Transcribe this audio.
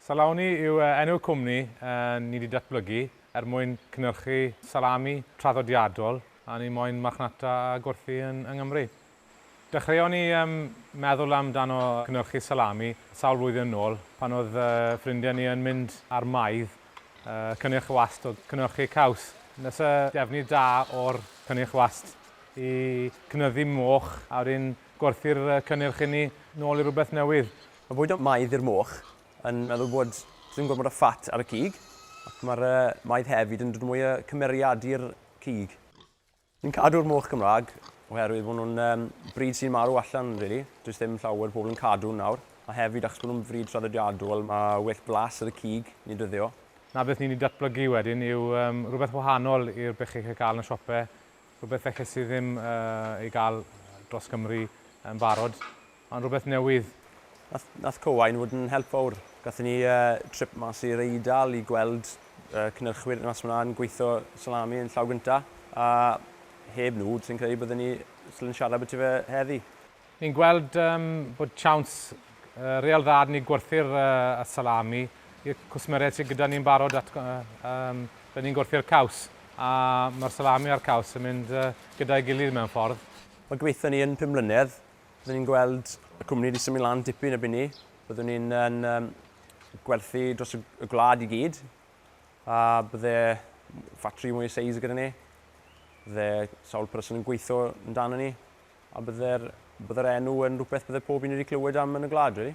Salami yw enw y cwmni ni 'di datblygu er mwyn cynyrchu salami traddodiadol a ni moyn marchnata a gwerthu yng Nghymru. Dechreuon ni meddwl amdano cynyrchu salami sawl flwyddyn yn ôl pan oedd ffrindiau ni yn mynd ar maidd cynnyrch wast o gynyrchu caws. Nes y defnydd da o'r cynnyrch wast i cynyddu moch a wedyn gwerthu'r cynnyrch inni nôl i rywbeth newydd. Mae bwydo maidd i'r moch yn meddwl bod dim gormod o ffat ar y cig, ac mae'r maidd hefyd yn dod mwy o cymeriad i'r cig. Ni'n cadw'r moch Gymraeg oherwydd bod nhw'n brid sy'n marw allan rili, does ddim llawer o pobl yn cadw nhw nawr, a hefyd achos bod nhw'n frid traddodiadol mae well blas ar y cig neu dyddio. Na beth ni'n ei datblygu wedyn yw rhywbeth wahanol i'r beche chi'n cael yn y siope, Rhywbeth elles i ddim ei gael dros Gymru yn barod, ond rhywbeth newydd. Nath Cowain fod yn help fawr. Gathon ni trip mas i'r Eidal i gweld cynyrchwyr mas fan'na yn gweitho salami yn llaw gynta, a heb nhw, sai'n credu bydden ni yn siarad ambyti fe heddi. Ni'n gweld bod siawns real dda 'da ni gwerthu'r salami i'r cwsmeriaid sydd gyda ni'n barod at da ni'n gwerthu'r caws a mae'r salami a'r caws yn mynd gyda'i gilydd mewn ffordd. Wel gobeithio ni yn pum mlynedd byddwn ni'n gweld y cwmni wedi symud lan dipyn erbyn ni. Byddwn ni'n yn gwerthu dros y gwlad i gyd a bydde ffatri mwy o seis gyda ni. Bydde sawl person yn gweithio amdano ni. A bydde'r, bydde'r enw yn rhywbeth bydde pob un wedi clywed am yn y gwlad, rili.